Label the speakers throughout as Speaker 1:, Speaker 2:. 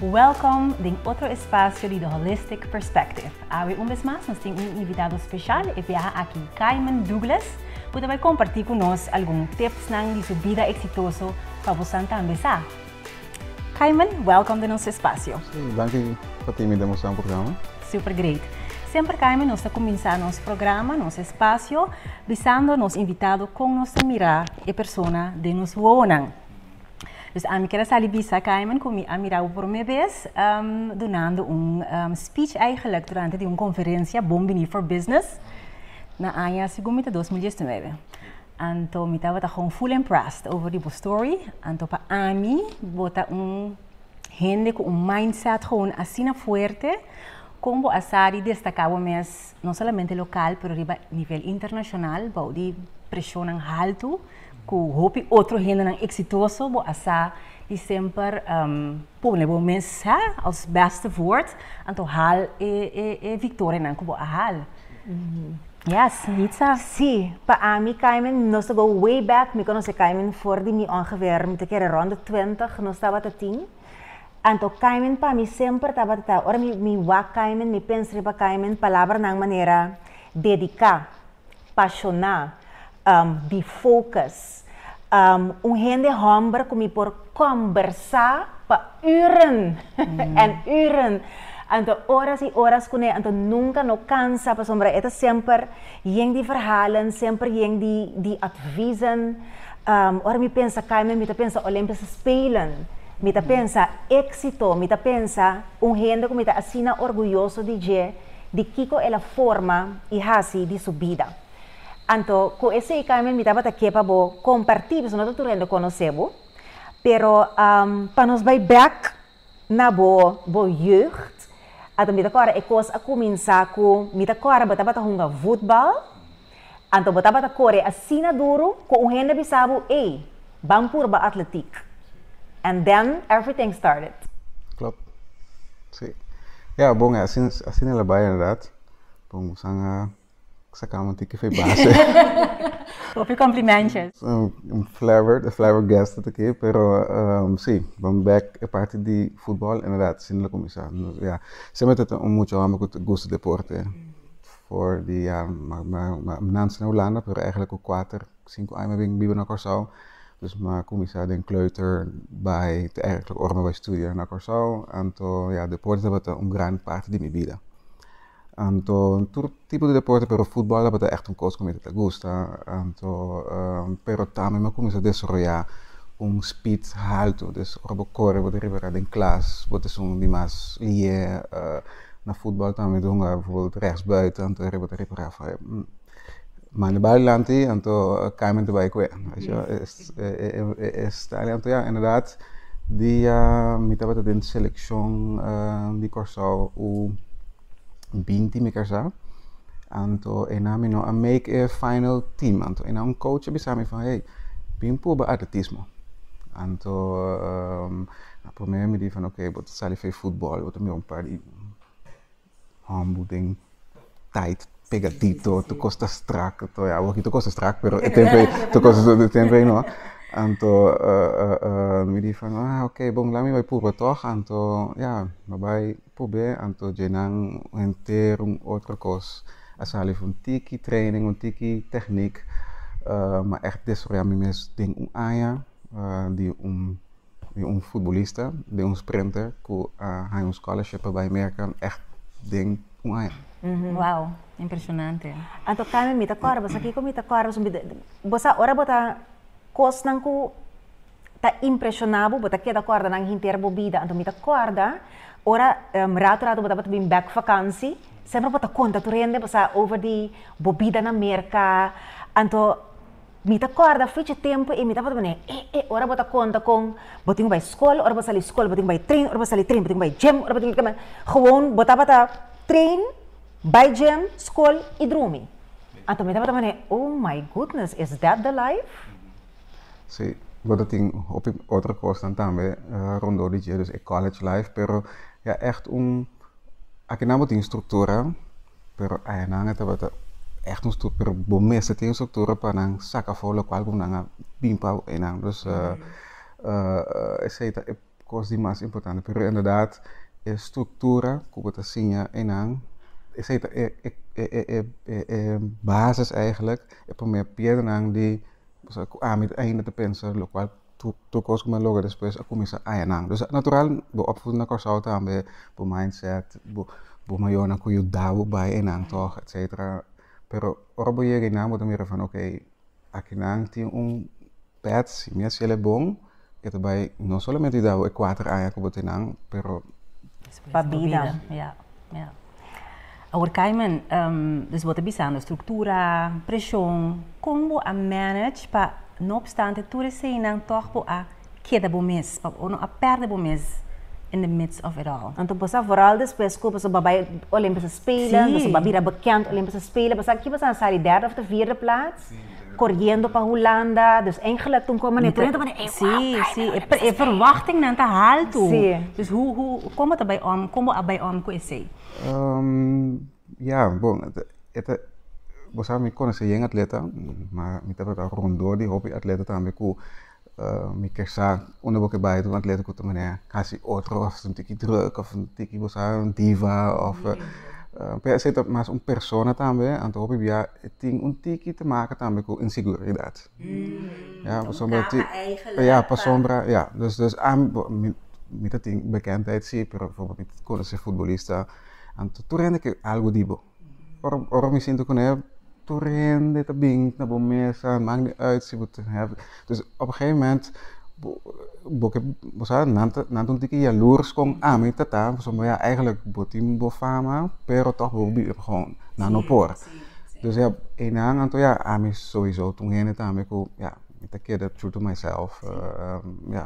Speaker 1: Welkom den otro espasio di The Holistic Perspective. Awe un bes mas nos tin un invitado speshal, e biaha aki Kaiman Douglas, ku ta bai kompartí ku nos algun tipsnan di su bida eksitoso pa bosan tambe sa. Kaiman, welcome den nos espasio. Sí, danki
Speaker 2: pa tin mi demostrá un programa. Super great.
Speaker 1: Semper Kaiman nos ta kuminsá nos programa, nos espasio, bisando nos invitado kon nos ta mirá e persona den nos wowonan. Dus ami ker a sali bisa Kaiman ku mi a mirá bo promé bes dunando un speech eigelijk durante di un konferensia Bon Biní for Business na aña, segun mi ta dos mil diesnuebe. Anto mi tabata gewoon full impressed over di bo story. Anto pa ami bo ta un hende cu un mindset gewoon asina fuerte. Con bo a sa di destaca bo mes no solamente local pero riba nivel internacional bao di presionnan haltu cu hopi otro hendenan exitoso. Bo a sa di semper. Pone bo mes hè, als beste voort, anto haal e e victorianan ku bo a haal. Yes, Nitsa. Sí, pa ami
Speaker 3: Kaimin, nos ta go way back, mi konosé Kaimin for di mi ongeveer, mi ta kere rond de twintig nos tabata tin. Anto Kaimin pa mi semper tabata, ora mi mi wak Kaimin, mi pens riba Kaimin, palabranan manera dediká. pashoná, di fókus. Un hende hòmber ku mi por kòmbersá pa ùren en ùren. Anto oras i oras kuné, anto nunka no kansa pasobra e ta semper yen di verhalen, semper yen di atvis'en. Ora mi pensa Kaimen, mi ta pensa Olèmpische Spelen, mi ta pensa éksito, mi ta pensa un hende ku mi ta asina orguyoso di dje. di kiko el a forma i hasi di su bida. Anto ku esei Carmen mi tabata ke pa bo kompartí pasobra no ta tur hende konosé bo, pero pa nos bai bèk na bo bo jeugd ato mi ta kòrda e kos a kuminsá ku mi ta kòrda bo tabata hunga vutbal, Anto bo tabata kore asina duru ku un hende bisa bo, ey, ban purba atletiek. And then everything started. Klop.
Speaker 2: Si. Ya, bon, asina el a bai inderdat. Bon, moesnan a saka un tiki fe base.
Speaker 1: Hopi complimentjes. Un flabberd,
Speaker 2: a flabbergasted aki, pero si, bon bek e parti di futbol inderdat asina el a kuminsá. Ya, semper ta un mucha homber ku ta gusta deporte. For di ya nanse na Hulanda pero eigenlijk ku kuater, sinku aña mi a bin biba na Kòrsou. Dus mi a kuminsá den kleuter bai te eigenlijk ora mi a bai studia na Kòrsou. Anto ya deporte tabata un gran parti di mi bida. Anto tur tipo di deporte pero futbòl tabata ègt un kos ku mi ta gusta. Anto pero tambe mi a kuminsá desaroyá un spit haltu. Des ora bo kore bo ta riba den klas bo ta esun di mas liyé. Na futbal tambe mi ta hunga bijvoorbeeld rechtsbuiten, anto Herrera ta repará for e man di bal dilanti, anto Carmen ta bai ku e. Anto ya, inderdaad, dia mi tabata den selekshon di Kòrsou u binti mi kersá, anto e nan mi no a make e final team. Anto e nan, un coach a bisa mi, hey, bin pruba atletismo. Anto. Na promé mi di fan ok bo ta sali fei futbòl bo ta mira un par di hòmber den tait pegadito tur kos ta strak anto ya awor tur kos ta strak pero e tempo ei tur kos e tempo ei no anto mi di fan ah ok bon laga mi bai purba tòg anto ya mi bai probé anto dje nan henter un otro kos a sali fu un tiki training un tiki tèknik mi a desarroya mi mes den un aña di un di un futbolista den un sprinter ku a haña un scholarship pa bai Merka ègt den un aña. Wou,
Speaker 1: impreshonante. Anto Carmen mi
Speaker 3: ta kòrda boso, kiko mi ta kòrda boso? Bo sa ora bo ta kosnan ku ta impreshoná bo, bo ta keda kòrda nan henter bo bida. Anto mi ta kòrda ora ratu ratu bo tabata bin bèk vakansi, semper bo ta konta tur hende, bo sa over di bo bida na Merka. Anto. Mi ta kòrda fichi tempu i mi tabata manera, e, e, ora bo ta konta kon bo tin ku bai skol, ora bo sali skol, bo tin ku bai trein, ora bo sali trein, bo tin ku bai gèm, ora bo tin ku. Gewoon bo tabata trein, bai gèm, skol i drumi. Anto mi tabata manera, oh my goodness, is that the life? Sí,
Speaker 2: bo ta tin hopi otro kosnan tambe rondó di dje, dus e college life, pero ya ègt un. Aki nan bo tin struktura pero ayanan e tabata echt un struktura pero bo mes a tin e struktura pa nan saka afo lokual ku nan a bin pa enan dus esei ta e kos di mas importante pero enberdat e struktura ku bo ta siña enan esei ta e basis eigenlijk e promé piedra nan di ku ami ainda ta pensa lokual Tur cos cu me logra despues a cuminsa aña nan. Dus natural bo opvoeding na Corsou tambe, bo mindset, bo bo mayornan cu yuda bo bay enan tog etcetera. Pero ora bo yega enan bo ta mira van ok aki nan tin un pet si mi a haciel e bon e ta bay no solamente yuda bo e cuater aña cu bo tin nan pero. Pa bida.
Speaker 1: Awor Kaiman, dus bo ta bisando struktura, preshon, kon bo a manage pa no opstante tur eseinan tòg bo a keda bo mes pa bo no a pèrdè bo mes in the midst of it all? Anto boso a vooral
Speaker 3: despues ku boso a bai Olimpische Spelen, boso a bira bekend Olimpische Spelen, boso a kipa sa na sa di derde of di vierde plaats? Koriendo pa Hulanda, dus engelet tun kome ne trenta manera, e wou afraid de Hulanda.
Speaker 1: E verwachtingnan ta haltu. Dus hu, hu, komo ta bai om, komo bo a bai om ku esei? Ya,
Speaker 2: bon, e ta, bo sabe mi konosé yen atleta, ma mi tabata rondó di hopi atleta tambe ku. mi ke sa unda bo ke bai ta un atleta ku ta mane kasi otro òf ta un tiki drùk òf un tiki bo sa un diva òf p'e esei ta mas un persona tambe anto hopi bia e tin un tiki te maka tambe ku inseguridat ya pasobra ya pasobra ya dus dus ami bo mi ta tin bekendheid si pero mi ta konosé futbolista anto tur hende ke algu di bo. Ora ora mi sinti ku nèf tur hende ta bin na bo mesa mak ni uit si bo ta nèf dus op e gegeven mument bo bo ke bo sa nan ta nan ta un tiki yalurs kon ami ta ta pasobra ya eigenlijk bo tin bo fama pero tòg bo bibi gou nan no por dus ya einan anto ya ami sowiso ta un hende tambe ku ya mi ta keda true to myself ya.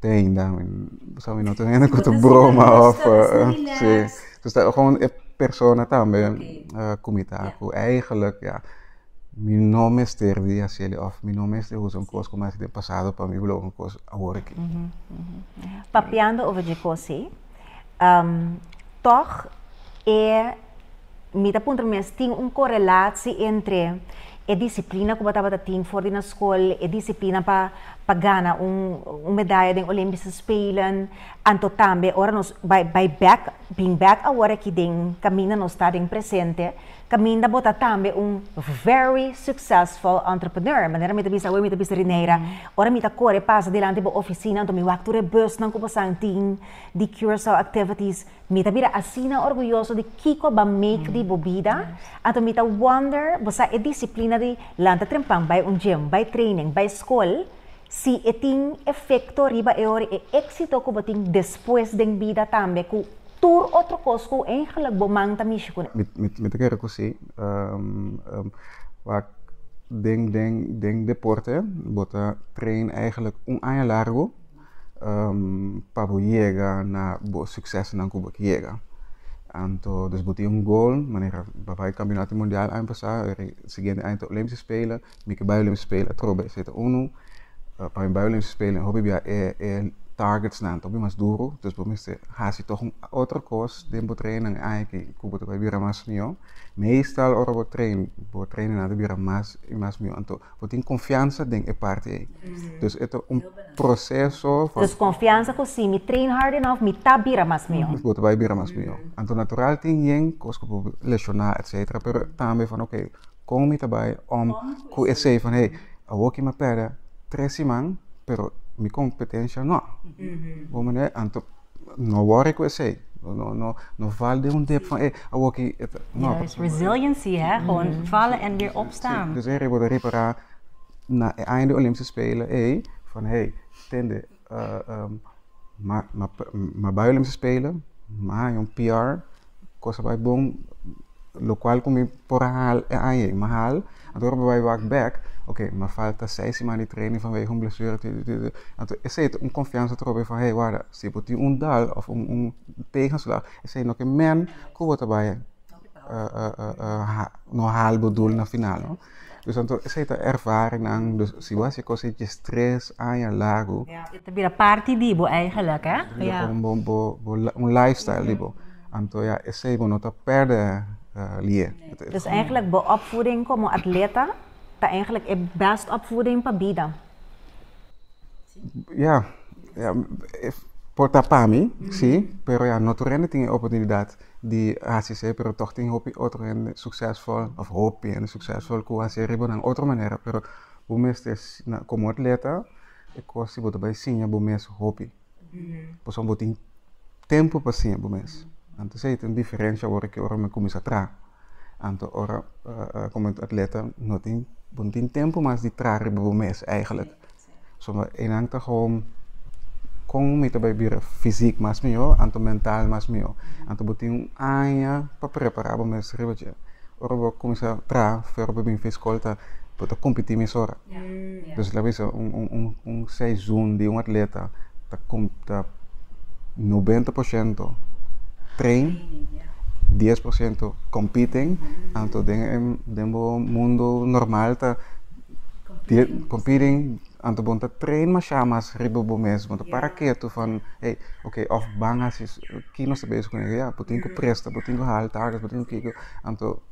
Speaker 2: Deng da mi bo sa mi no ta hende ku ta broma of si dus ta gewoon e persona tambe ku mi ta ku eigenlijk ya mi no mester di hasi el of mi no mester usa un kos ku mi hasi den pasado pa mi loke un kos awor aki.
Speaker 3: Papiando over dje kos ei. Tòg, e mi ta puntra mes, tin un korelatsi entre e disiplina ku bo tabata tin for di nan skol, e disiplina pa pa gana un un medaya den Olimpiese Spelen, anto tambe ora nos bai bai bèk, bring bèk awor aki den kaminda nos ta den presente. Caminda bo ta tambe un very successful entrepreneur, manera mi ta bisa awe, mi ta bisa Rineira, ora mi ta core pasa dilanti bo oficinanan to mi wak tur e busnan cu bosan tin di Curaçao activities, mi ta bira asina orguyoso di kico bo a make di bo bida, anto mi ta wonder bo sa e disciplina di lanta trempan bay un gym, bay training, bay school, Si e tin efecto riba e ora e exito cu bo tin despues den bida tambe cu tur otro cos cu eigenlijk bo man ta mishi cu. Mi ta kere cu si.
Speaker 2: Wak den den den deporte bo ta train eigenlijk un aña largo pa bo yega na bo succesnan cu bo ke yega. Anto dus bo tin un goal manera bo a bay campeonato mundial aña pasa y siguiente aña ta Olympische spelen. mi ke bayolim spelen atrobe esei ta unu pa mi bayolim spelen hopi bia e e targetsnan ta hopi mas duru dus bo mester hasi tog un otro kos den bo treinnan ai ke ku bo ta bai bira mas mihó meestal ora bo trein bo treinnan ta bira mas i mas mihó anto bo tin konfiansa den e parti ei dus e ta un proseso van Dus konfiansa ku si mi
Speaker 3: trein hard enof mi ta bira mas mihó. bo ta bai bira mas mihó
Speaker 2: anto natural tin yen kos ku por leshoná etsetera pero tambe van oke. Kon mi ta bai om ku esei van hey, awor ki mi a pèrdè tres siman, pero mi kompetensha nò. Bo manera, anto no wòri ku esei. No, no, no fal den un dip van hey, awor ki e ta, no. Ja, es
Speaker 1: resiliency, hè, gewoon vallen en weer opstaan. Si, dus e riba bo ta ripará
Speaker 2: na e aña di Olimpische Spelen ei, van hey, tende. ma bai ol'em spelen, ma haña un PR, cosa bai bon, locual cu mi por a hal e aña ei, ma hal, anto ora mi bai wak bek, ok, ma falta seis siman di training vanwege un blesura, anto esey ta un confiansa trobe mi fa hey wada, si bo tin un dal of un tegenslag, esey no ke men cu bo ta bai. no haal bo doel na final no dus tanto esei ta ervaringnan dus si bo a haci cosa dje stress aña largo ta bira parti
Speaker 1: di bo eigenlijk he ta bira como
Speaker 2: un life style di bo anto ya esei bo no ta perde lie dus eigenlijk
Speaker 3: bo opvoeding como atleta ta eigenlijk e best opvoeding pa bida ya
Speaker 2: por ta pa mi si pero ya no tur hende tin e oportunidad di hasi sey pero tog tin hopi otro hende suksesvol of hopi hende suksesvol ku hasi riba nan otro manera pero bo mester komo atleta e kos si bo ta bai siña bo mes hopi pasobra bo tin tempu pa siña bo mes anto esei ta un diferensha awor ke ora mi kuminsha traha anto ora komo atleta no tin bo no tin tempu mas di traha riba bo mes eigenlijk. So enan ta gewoon kon mi ta bai bira fisik mas mihó anto mental mas mihó. Anto bo tin un aña pa prepará bo mes riba dje. Ora bo kuminsá traha fu ora bo bin fin skol ta bo ta kompití mesora. Entonces lo bisa un un un un seizun di un atleta ta kom ta nobenta por shento train, dies por shento kompiten anto den e den bo mundo normal ta. Competing, anto bon ta train masha mas riba bo mesmo, ta para keto fan, hey, ok, of ban hasi ki nos ta bezig con ey, ya, bo tin cu presta, bo tin cu hal tagas, bo tin cu kiko, anto.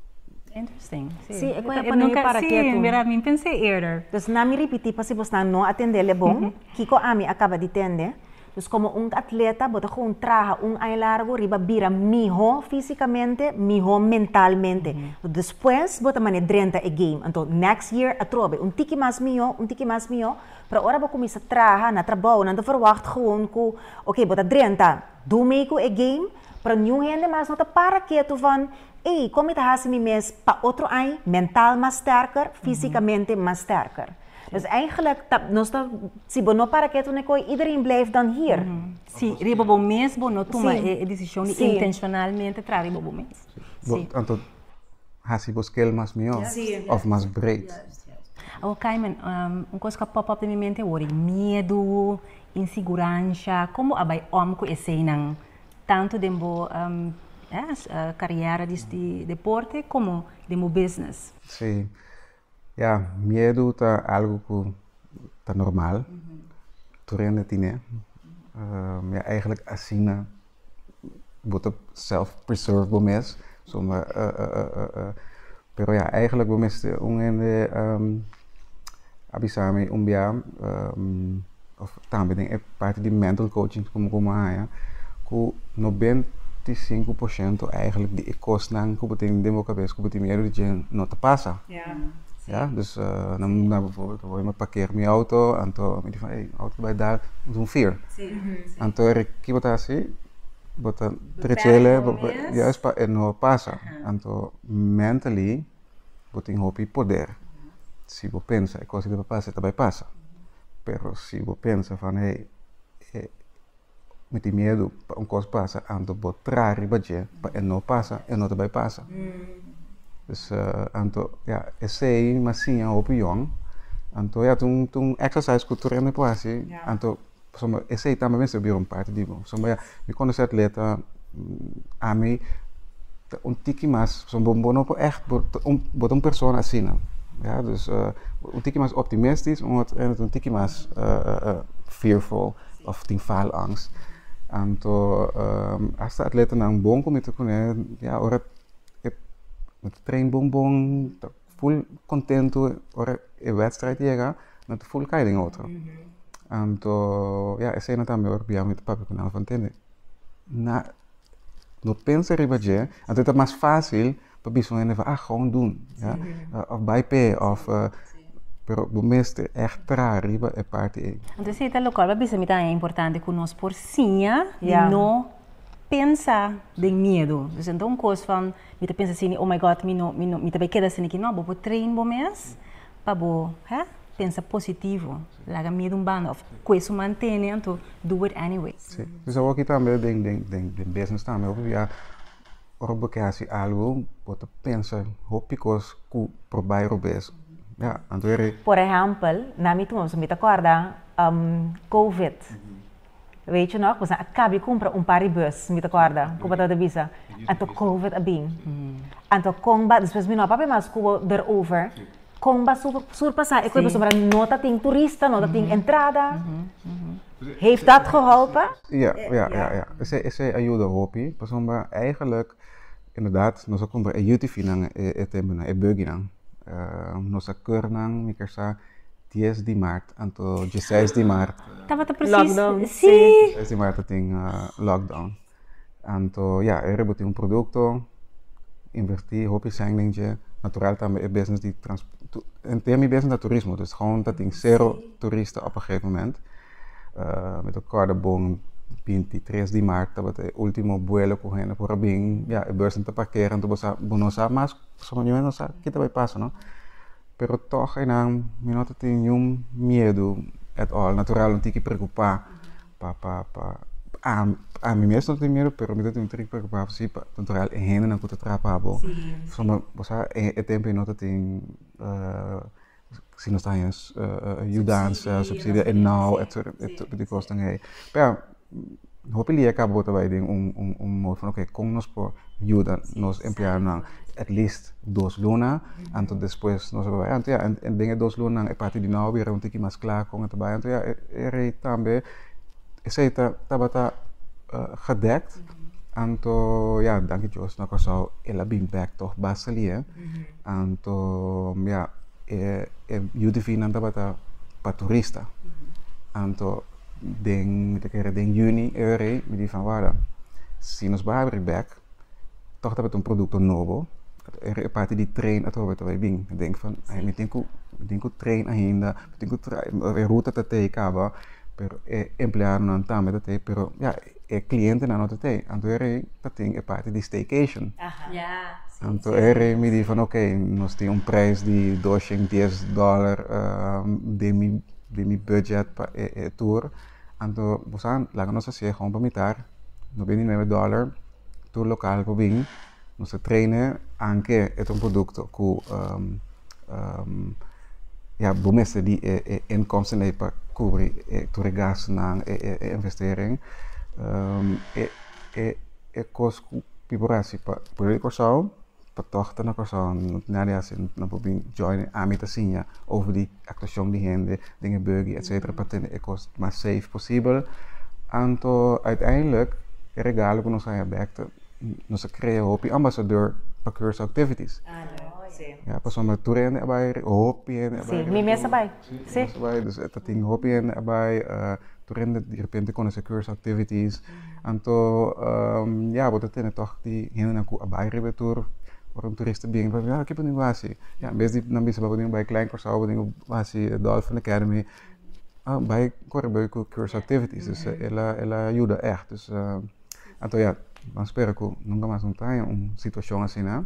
Speaker 2: Interesting,
Speaker 1: si. Si, e cu e
Speaker 3: pone para keto. Si, mira, mi pense eerder.
Speaker 1: Dus na mi ripiti pa
Speaker 3: si bo sta no a tende le bon, kiko ami a caba di tende. Dus komo un atleta, bo ta kon traha un aña largu riba bira mihó físikamente, mihó mentalmente. Despues bo ta mane drenta e game. Anto next year atrobe, un tiki mas mihó, un tiki mas mihó. Pero ora bo kuminsá traha na trabou, nan ta verwagt gewoon ku oké, bo ta drenta, do mee ku e game. Pero niun hende mas no ta para ketu van ei, kon mi ta hasi mi mes pa otro aña mental mas stèrker, físikamente mas stèrker? Dus eigenlijk ta nos ta si bo no para ketu n'e kooi iedereen blijf dan hier. Si riba bo
Speaker 1: mes bo no tuma e decision di intencionalmente traha riba bo mes. Si. Anto
Speaker 2: hasi bo scale mas mihó of mas breed. Awor
Speaker 1: Kaiman, un cos cu a pop up den mi mente awor e miedu, inseguransha, con bo a bay om cu eseynan tanto den bo carriera di deporte como den bo business? Si.
Speaker 2: Ya, miedu ta algu ku ta normal, tur hende tine, ya eigenlijk asina bo ta self preserve bo mes, pero ya eigenlijk bo mester, un hende a bisa mi un biaha. Of tambe den e parti di mental coaching komo ku mi a haña ku noventa i sinku por shento eigenlijk di e kosnan ku bo tin den bo kabes ku bo tin miedu di djen no ta pasa. Ya, dus nan na befo bo mi pakeer mi outo anto mi di van ey, outo ta bai dar dus un fear. Anto e ki bo ta hasi, bo ta trechele, bo ta, juist pa e no pasa. Anto mentally. bo tin hopi poder. Si bo pensa e cos di bai pasa, e ta bai pasa. Pero si bo pensa van hey, eh, mi tin miedu pa un cos pasa, anto bo tra riba dje pa e no pasa, e no ta bai pasa. Dus, uh, anto, ya, esey, masiña, hopi yòn. Anto, ya, ta un, ta un exercise cu tur hende por haci, anto. Pasobra esei tambe mester bira un parti di mi. Pasobra ya mi conoce atleta, ami ta un tiki mas, pasobra bo no por echt, bo ta un, bo ta un persona asina. Ya, dus un tiki mas optimistis, un otro kende ta un tiki mas fearful of tin faalangst. Anto asta atletanan bon ku mi ta kuné, ya ora e train bon bon. Full contento ora e wedstrijd yega no ta full kai den otro anto ya esey no tambe ora bia mi ta papia cu nan for tende na no pensa riba dje anto ta mas facil pa bisa un hende fa ah gawon dun ya of bay p'e of pero bo mester echt traha riba e parti ey. Anto esey ta locual pa
Speaker 1: bisa mi tambe importante cu nos por siña di no pensa den miedo dus ento un cos van. Mi ta pensa sini, Oh my God, mi no, mi no, mi ta bai keda sini aki. No, bo por train bo mes pa bo ha pensa positivo. Laga miedu un banda of kue su mantene anto do it anyway. Sí, pues awor aki tambe
Speaker 2: den, den, den, den business tambe hopi bia ora bo ke hasi algo bo ta pensa hopi kos ku por bai robes. Ya, anto ere. Por ehempel,
Speaker 3: na mi tur, mi ta korda, covid. Rachel nog, boso a caba di cumpra un par di bus, mi ta corda cu bo tabata bisa, anto Covid a bin. Anto con bo, despues mi no a papia mas cu bo erover, con bo a surpasa e cu e boso mira no ta tin turista, no ta tin entrada? Heeft dat geholpen? Ja, ja, ja, ja.
Speaker 2: Esey, esey a yuda hopi, pasobra eigenlijk, inderdaad, nos a cumpra e UTVnan, e, e, e temponan, e buggynan. nos a cur nan, mi ker sa, 10 di maart anto je 6 di maart tabata precies
Speaker 1: lockdown
Speaker 3: si sí. 6 di maart
Speaker 1: tin uh,
Speaker 2: ah, lockdown anto ja yeah, er botin un producto inverti hopi sending je natural tambe e business di trans en tema business da turismo dus gewoon dat in zero turista op een gegeven moment uh, met elkaar de bon 23 di maart dat het ultimo vuelo con hen por abin ja e bus te parkeren tu bosa bonosa mas so yo no sa kita bai pasa no Pero tog einan mi no ta tin niun miedu at all. Natural no tin ki preocupa pa pa pa ami ami mes no ta tin miedu pero mi ta tin un tin ki preocupa si pa natural e hendenan cu ta trahba bo somehow bo sa e temponan no ta tin si no ta haña yudansa, subsidio e nau etcetera e tur e tur di cosnan ei. Hopi dia ka bo ta bai den un un mood van oke, kon nos por yuda nos empleadonan at least dos lunanan, anto despues nos a bai. Anto ya den e dos lunanan e parti di nou a bira un tiki mas kla kon a ta bai. Anto ya e rei tambe esei tabata gedekt, anto ya danki dios na kòrsou el a bin bèk tog ba sali. Anto ya e yu di finnan tabata pa turista. den, mi ta kere den juni e rei mi di van wada si nos bai abri bek tog tabata un produkto nobo e parti di train atrobe ta bai bin mi denk van mi tin ku mi tin ku train ainda mi tin ku e ruta ta tei kaba pero e empleadonan tambe ta tei pero ya. e clientenan no ta tei. Anto e rei ta tin e parti di staycation. Anto e rei mi di van oké, nos tin un prijs di doshen dies dollar den mi den mi budget pa e e tour. Anto bo sa laga nos hasié hon pa mitar, no bini nuebe dollar, tur lokal por bin. Nos a traine anke e otro produkto ku ya bo mester di e inkomsten ei pa kubri tur e gastunan, e investering. E kos ku pi por hasi pa prueba di Kòrsou, pa tòg ta na Kòrsou, no tin nada di hasi, no por bin join ami ta siña over di. actuashon di hende den e buggy etcetera pa tene e kos mas safe posibel. Anto uiteindelijk e regalo ku nos a haya bek ta nos a krea hopi ambasador pa Curaçao Activities. Ya, pasobra tur hende a bai, hopi hende a bai. Si, mi mes a bai.
Speaker 3: Si. Mi mes a bai, dus
Speaker 2: ta tin hopi hende a bai, tur hende derepente konosé Curaçao Activities. Anto, ya, bo ta tene tòg di hendenan ku a bai riba e tur. Ora un turista bini, bo ta bisa, Kiko bo tin ku hasi? Ya, en bes di nan bisa, Bo tin ku bai Klein Kòrsou, bo tin ku hasi e Dolphin Academy. Bai kor riba e Curaçao Activities. Dus e la, e la yuda ègt. Dus, anto ya, nan spera ku nunka mas no ta haña un situashon asina.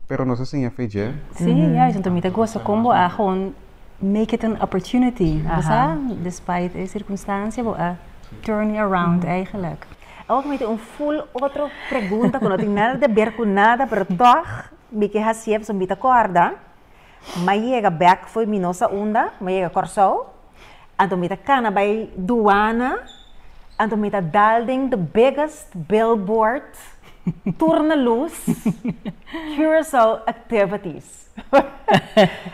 Speaker 2: Pero nos a siña fe dje. Sí, ya, esun ta mi
Speaker 1: ta goza kon bo a hon make it an opportunity bo sa despite e circunstancia bo a turn it around eigenlijk. Awa ku mi tin un
Speaker 3: full otro pregunta ku no tin nada te ber ku nada pero tog mi ke hasié pasobra mi ta kòrda mi a yega bek fo'i mi no sa unda mi a yega Kòrsou anto mi ta kana bai duana anto mi ta dal den de biggest billboard tur na lus Curaçao activities.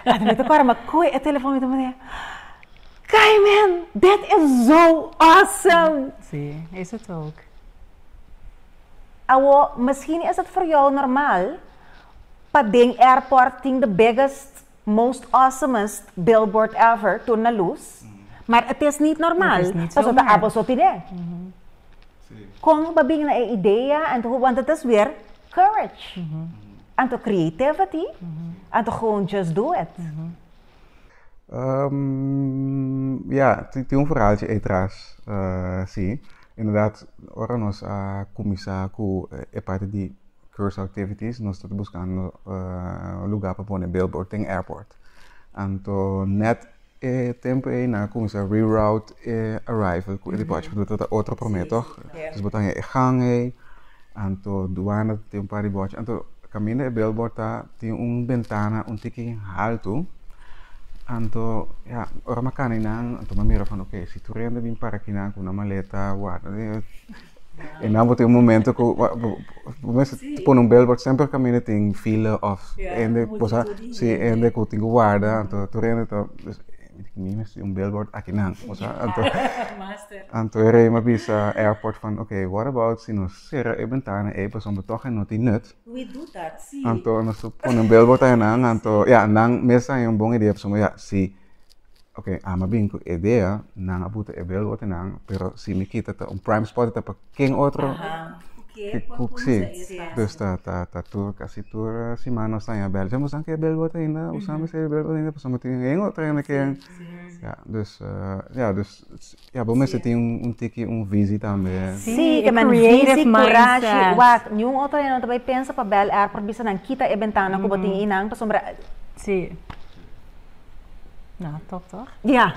Speaker 3: Ata mi ta kora, mi koe e telefòn, mi ta manda e, Kai man, dat e zo awesome! Sí, eso ta
Speaker 1: ok. Awor,
Speaker 3: miskien esei ta for jou normal, pa den airport tin the biggest, most awesomest billboard ever tur na lus, maar et is niet normal, pasobra ta apo so tin e. Kon bo a bini na e idea, ant, want et is weer Courage! Anto creativity, anto gewoon just do it.
Speaker 2: Ya, tin un ferhaltje ei tras, si. Inderdat, ora nos a kuminsá ku e parti di Curaçao Activities, nos tabata buskando un lugá pa pone billboard den airport. Anto nèt E tempu ei nan a cuminsa reroute e arrival cu e departure cu ta ta otro prome toch? Entonces bo ta haña e gang ei, anto duana ta tin un par di bòchi, anto caminda e billboard ta tin un bentana un tiki haltu, anto ya ora m'acaminnan anto m'a mira fan ok si tur hende a bin para aki nan cu nan maleta a warda. E nan bo tin un momento ku bo mes pone un bel porque semper caminda tin fila of hende cosa si hende ku tin ku warda anto tur hende ta mi mes tin un billboard aki nan cosa anto anto e rei a bisa airport van ok what about si nos sera e bentana ei pasobra bo tog a no tin nut
Speaker 3: anto nos ta pone un
Speaker 2: billboard ahi nan anto ya nan mes a haña un bon idea pasobra ya si Ok ama bin cu edea nan a buta e bel ote nan pero si mi kita ta un prime spot ta pa ken otro si dus ta ta tur casi tur siman nos ta haña bel dja musan ke bel ote ainda usa mester e bel ote ainda pasobra tin ahen otro hende ken ya dus ya dus. Ya bo mester tin un tiki un visie tambe. Si, e man visie
Speaker 3: kurashi. Wak, niun otro hende no ta bay pensa pa Bel Air por bisa nan kita e bentana ku bo tin einan pasobra. Si. No,
Speaker 1: top toch?
Speaker 3: Ya.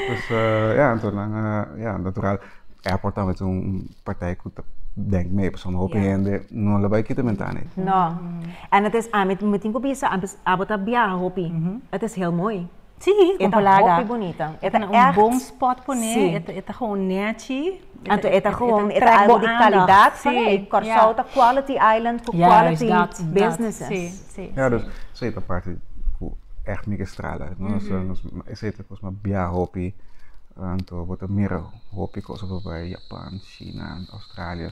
Speaker 2: Pues ya anto nan a ya natural airport tambe ta un partij ku ta denk mei pasobra un hopi hende no lo bay kita bentana ei. No.
Speaker 3: En het is ami tin ku bisa abo ta biaha hopi. Het is heel mooi. Sí, e ta hopi
Speaker 1: bunita. E ta un
Speaker 3: bon
Speaker 1: spot pone, e ta gewoon nechi. Anto e ta gewoon,
Speaker 3: e ta algo di kalidad pone. Kòrsou ta quality island ku quality businesses. Ja, dus
Speaker 1: esei ta
Speaker 2: parti ku ègt mi ke strala. Esei ta kos, ma bia hopi anto bo ta mira hopi kos bai Japan, Shina, Australia.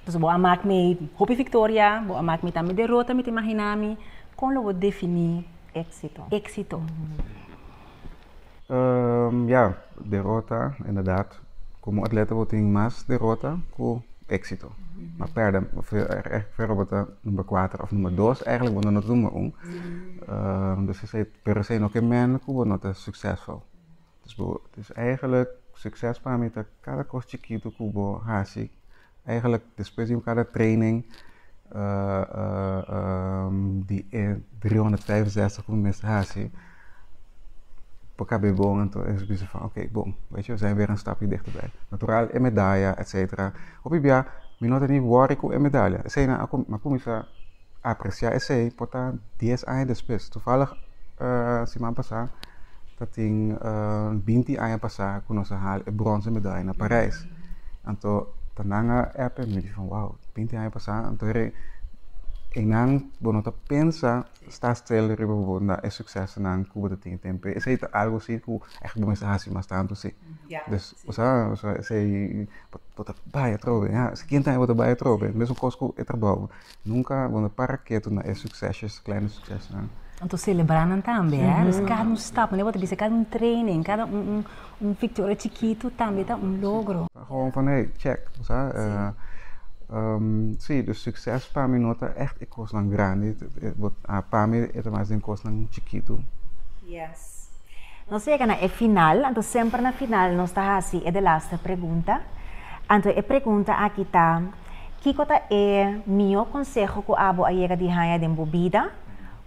Speaker 1: Entonces bo a mak mi hopi victoria, bo a mak mi tambe derota, mi ta imagina mi con lo bo defini exito. Exito.
Speaker 2: Ya, derota, inderdaad, como atleta bo tin mas derota cu exito. Ma perde, refer bo ta number cuater of number dos, eigenlijk bo no ta number un. Pero esey no ke mende cu bo no ta succesful. Dus eigenlijk succes pa mi ta cada cos chiquito cu bo haci. Eigenlijk despues di un cada training di e driehonderdvijfenzestig cu mi mester haci pa caba e bon anto ellos bisa fan ok bon wet je we zijn weer een stapje dichterbij. Natural e medalla etcetera hopi bia mi no ta ni worry cu e medalla esey nan a cuminsá. apreciá esei por ta dies aña despues. Toevallig siman pasá ta tin binti aña pasá ku nos a hal e bronce medalla na Parijs. Anto ta nan a app e mi a bishi van wow, binti aña pasá. Anto e einan bo no ta pensa sta stil riba bo na e succesonan ku bo ta tin e tempu. Esei ta algo si ku ègt bo mester hasi mas tantu si. Dus sa esei bo ta bai atrobe. Sikiente aña bo ta bai atrobe, mesun kos ku e trabou. Nunca nos a para ketu na e succesos, kleine succesnan. Nos a celebra
Speaker 1: nan tambe, eh. Nos cada un stap, manera bo ta bisa, cada un training, cada un victoria chikitu tambe ta un logro. Ta gewoon van hey,
Speaker 2: check, bo sa. Si, dus succes pa mi no ta echt e cosnan grandi, pa mi e ta mas den cosnan chikitu. Yes.
Speaker 3: Nos yega na e final, anto semper na final nos ta haci e de laster pregunta. Anto e pregunta aki ta. Kiko ta e mihó konseho ku abo a yega di haña den bo bida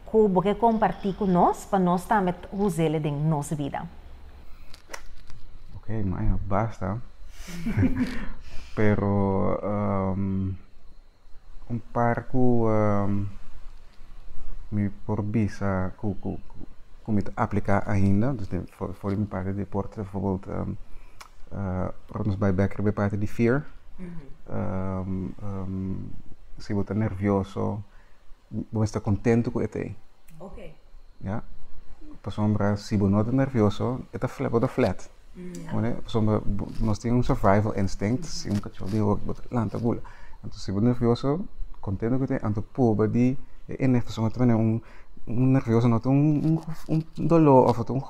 Speaker 3: ku bo ke kompartí ku nos pa nos tambe ta uséle den nos bida?
Speaker 2: Oké, maña basta. Pero un par ku mi por bisa ku mi ta apliká ainda, for di mi parti di por ora nos bai bek riba e parti di fear, si bo ta nervioso, bo mester ta kontento ku e ta ei.
Speaker 3: Ya.
Speaker 2: Pasobra si bo no ta nervioso, e ta flat, bo ta flat. Pasobra nos tin un survival instinct, si un kachó bin hopi bo ta lanta gula. Anto si bo nervioso, kontento ku e ta ei, anto purba di e energi, pasobra un nervioso no ta un doló òf.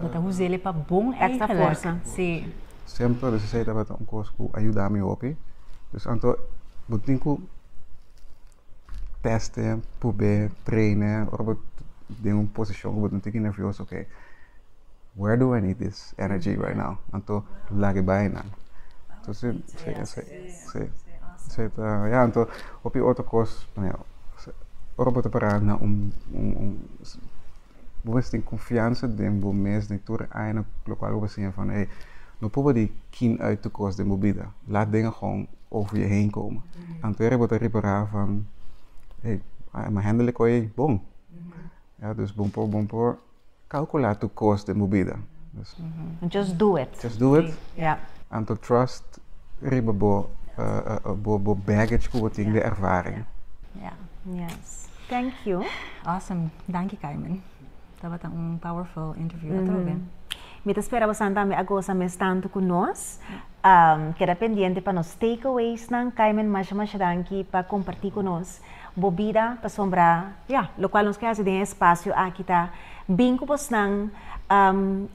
Speaker 1: Bo ta uzel e pa bon
Speaker 3: eigenlijk. Si.
Speaker 1: Semper resisei
Speaker 2: tabata un kos ku a yuda mi hopi. Dus anto bo tin ku teste, prob'é, treine ora bo den un posishon ku bo ta tiki nervioso, ke where do I need this energy right now? Anto lag'e bai nan. Entonces, si, si, si. Si ta, ya, anto hopi otro kos, ora bo ta para na un. bo mester tin confiansa den bo mes, den tur e aña lo cual bo siña van hey, no proba di kin uit tur cos den bo bida, laat denga gewoon over je heen komen. Anto era bo ta repara van hey, a me handle e coi ei bon. Ya, dus bo por, bo por calcula tur cos den bo bida. Dus, Just do it.
Speaker 3: just do it. Ya.
Speaker 2: Anto
Speaker 3: trust
Speaker 2: riba bo, bo baggage cu bo tin den ervaring. Ya.
Speaker 1: Yes.
Speaker 3: Thank you. Awesome.
Speaker 1: Danki Carmen. Tabata un powerful interview atrobe. Mi ta
Speaker 3: spera bosan tambe a goza mes tantu ku nos. Keda pendiente pa nos takeawaysnan. Carmen, masha masha danki pa kompartí ku nos bo bida pasobra ya, lokual nos ke hasi den e spasio aki ta bin ku bosnan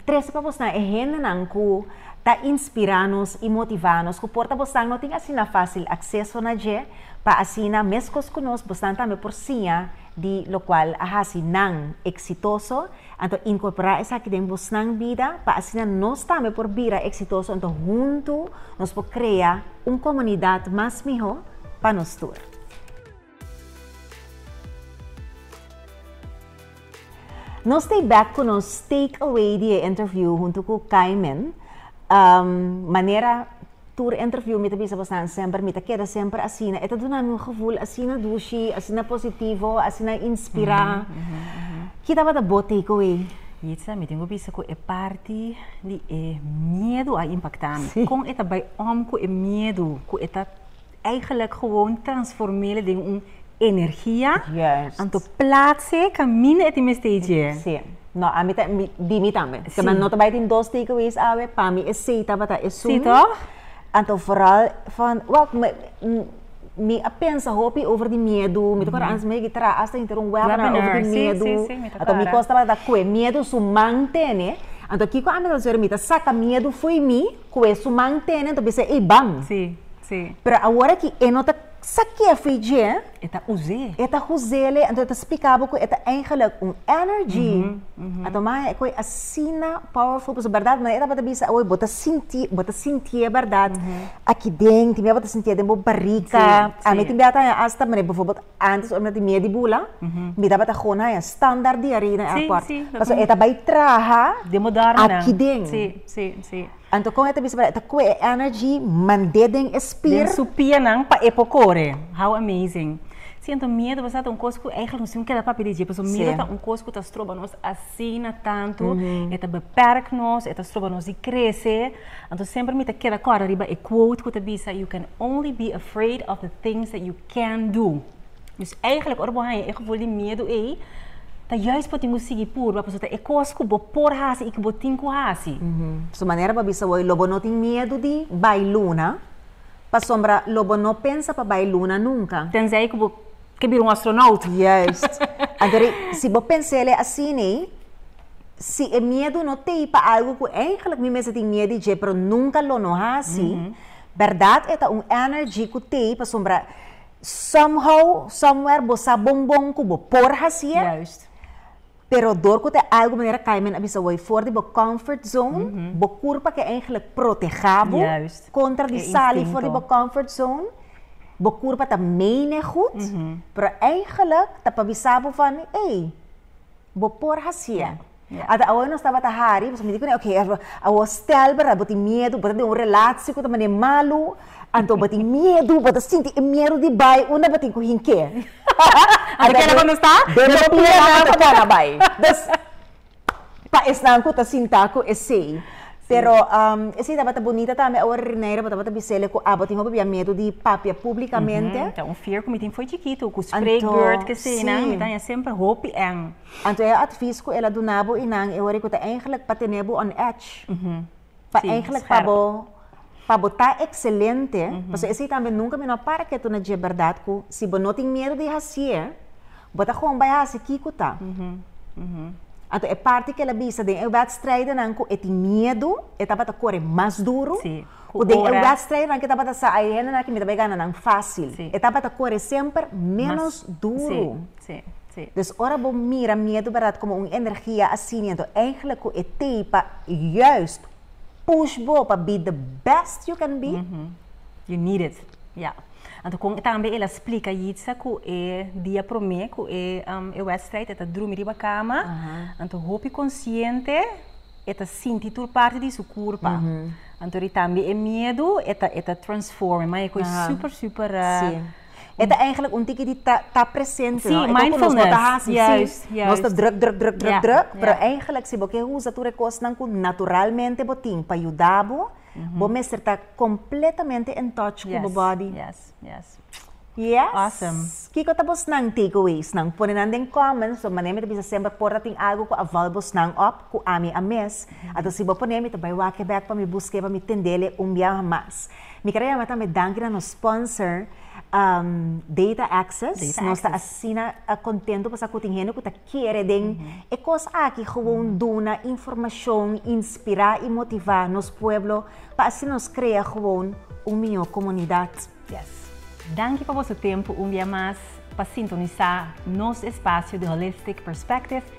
Speaker 3: trese pa bosnan e hendenan ku ta inspirá nos i motivá nos, ku por ta bosnan no tin asina fásil akseso na dje. Pa asina, meskos ku nos, bosnan tambe por siña di lokual a hasi nan eksitoso. Anto inkorporá esaki den bosnan bida, pa asina nos tambe por bira eksitoso. Anto huntu nos por krea un komunidat mas mihó pa nos tur. Nos ta e bek ku nos take away di e interview huntu ku Kaimen. Um, manera tur interview mi ta bisa bosan semper, mi ta keda semper asina. E ta duna mi un gevoel asina dushi, asina positivo, asina inspirá. Ki tabata bo take away? Yitza, mi tin ku
Speaker 1: bisa ku e parti di e miedu a impaktá mi. Kon e ta bai om ku e miedu ku e ta. Eigenlijk gewoon transformele den un energia. Juist. Anto plaatse camine eti mester i dje. Si. No, ami
Speaker 3: ta, mi, di mi tambe. Si. Kema no ta bai tin dos takeaways awe, pa mi esei tabata esun. Si toch?
Speaker 1: Anto vooral
Speaker 3: van, wak, me, m, mi a pensa hopi over di miedu. Mi ta kora antes mi a yegi traha hasta inter un webinar. Webinar, si, si, si, mi ta kora. over di miedu. Si, si, mi ta kora. Anto mi kos tabata kue miedu su man tene. Anto kiko ami ta hacer? Mi ta saka miedu fo'i mi. Cu e su man tene, anto bisa e ban. Sí, sí.
Speaker 1: Pero awor aki e
Speaker 3: no ta sa ke fei dje. E ta us'é.
Speaker 1: E ta us'é le, anto
Speaker 3: e ta spica bo cu e ta eigenlijk un energy. A toma e coi asina powerful pasobra berdad manera tabata bisa awor bo ta sinti, bo ta sintié berdad aki den, tin bia bo ta sintié den bo barica. Ami tin bia ta haña hasta manera befo. Antes ora mi a tin miedu di bula, mi tabata go na e standaard di arí den airport. Sí, sí. Pasobra e ta bai traha Den bodor nan. aki
Speaker 1: den. Sí, sí,
Speaker 3: sí.
Speaker 1: Anto kon e ta bisa
Speaker 3: pasobra e ta koe e energy mand'é den e spir. Den su
Speaker 1: pianan
Speaker 3: pa e
Speaker 1: por kore. How amazing. Sí, anto miedu basada ta un kos ku eigentlik nos tin ku keda papia di dje. Pasobra miedu ta un kos ku ta stroba nos asina tantu. E ta beperk nos, e ta stroba nos di krese. Anto semper mi ta keda kòrda riba e quote ku ta bisa, You can only be afraid of the things that you. can do. Dus eigenlijk ora bo haña e gevoel di miedu ei, ta juist pa tin bo sigui purba, pasobra ta e kos ku bo por hasi i ku bo tin ku hasi. Su manera pa
Speaker 3: bisa wou ei, Lo bo no tin miedu di bai luna, pasobra lo bo no pensa pa bai luna nunka. Tenzij ku bo
Speaker 1: ke bira un astronaut. Juist.
Speaker 3: Anto ri, si bo pensa el ei asin ei, si e miedu no t'ei pa algu ku eigenlijk mi mes a tin miedu di dje, pero nunka lo no hasi, Berdad e ta un energy cu t'ey pasobra somehow, somewhere bo sa bon bon cu bo por haci e. Juist.
Speaker 1: Pero
Speaker 3: door cu ta e algo manera cay men a bisa bo ey for di bo comfort zone, bo curpa ke eigenlijk proteha bo contra di sali for di bo comfort zone, bo curpa ta mene goed, pero eigenlijk ta pa bisa bo van ey bo por haci e. Ata awo nos tabata hari, pasobra mi di kuné, oke, awo stèl, bèrdat, bo tin miedu, bo ta den un relashi ku ta manera malu, anto bo tin miedu, bo ta sinti e miedu di bai unda bo tin ku hink'é. Ata
Speaker 1: keda bo no sta, den bo pia nan pa
Speaker 3: kòrda bai. Dus, pa esnan ku ta sinta ku esei. Pero, esei tabata bunita tambe. Awor Rineira, bo tabata bis'é ku abo tin hopi bia miedu di papia publikamente. Ta un fear ku mi tin
Speaker 1: fo'i chikitu, ku spreekbeurt, keseinan, mi ta haña semper hopi èn. Anto e advies
Speaker 3: cu el a duna bo inan e ora cu ta eigenlijk pa tene bo on edge. Pa eigenlijk pa bo pa bo ta excelente, pasobra esey tambe nunca mi no a para ketu na dje berdad cu si bo no tin miedo di hacié, bo ta gewoon bay haci kico ta. Anto e parti cu el a bisa den e wedstrijdenan cu e tin miedo, e tabata core mas duro, cu den e
Speaker 1: wedstrijdenan
Speaker 3: cu e tabata sa ay e hendenan aki mi ta bay gana nan facil. E tabata core semper menos duro. Sí, sí.
Speaker 1: Dus ora bo
Speaker 3: mira miedu berat como un energia asina, enton eigenlijk cu e teipa juist push bo pa
Speaker 1: be
Speaker 3: the best
Speaker 1: you can
Speaker 3: be.
Speaker 1: You
Speaker 3: need it.
Speaker 1: Ja.
Speaker 3: Anto
Speaker 1: con tambe el a splica Yitza cu e dia prome cu e um, e wedstrijd e ta drumi riba cama, Aha. anto hopi consciente e ta sinti tur parti di su curpa. Anto ri tambe e miedu e ta e ta transforme, ma e cu e Aha. super super uh, Sí.
Speaker 3: E ta eigenlijk un tiki di ta ta presente no e kon ku nos no ta
Speaker 1: hasi si nos
Speaker 3: ta druk druk druk druk druk pero eigenlijk si bo ke usa tur e kosnan ku naturalmente bo tin pa yuda bo bo mester ta kompletamente in touch ku bo body
Speaker 1: yes
Speaker 3: kiko ta bosnan takeawaysnan pone nan den comments so manera mi ta bisa semper por ta tin algu ku a val bosnan op ku ami a mes anto si bo pone mi ta bai wak e bek pa mi buske pa mi tende le un biaha mas. Mi kere yama tambe danki na nos sponsor um, Data Access. Data Access. Nos ta asina uh, contento pa sa cu tin hende cu ta kere den mm -hmm. e cos aki gewoon mm -hmm. duna informacion, inspira y motiva nos pueblo pa así nos crea gewoon un mio comunidad. Yes.
Speaker 1: Danki pa boso tempo un bia mas pa sintonisa nos espacio de Holistic Perspective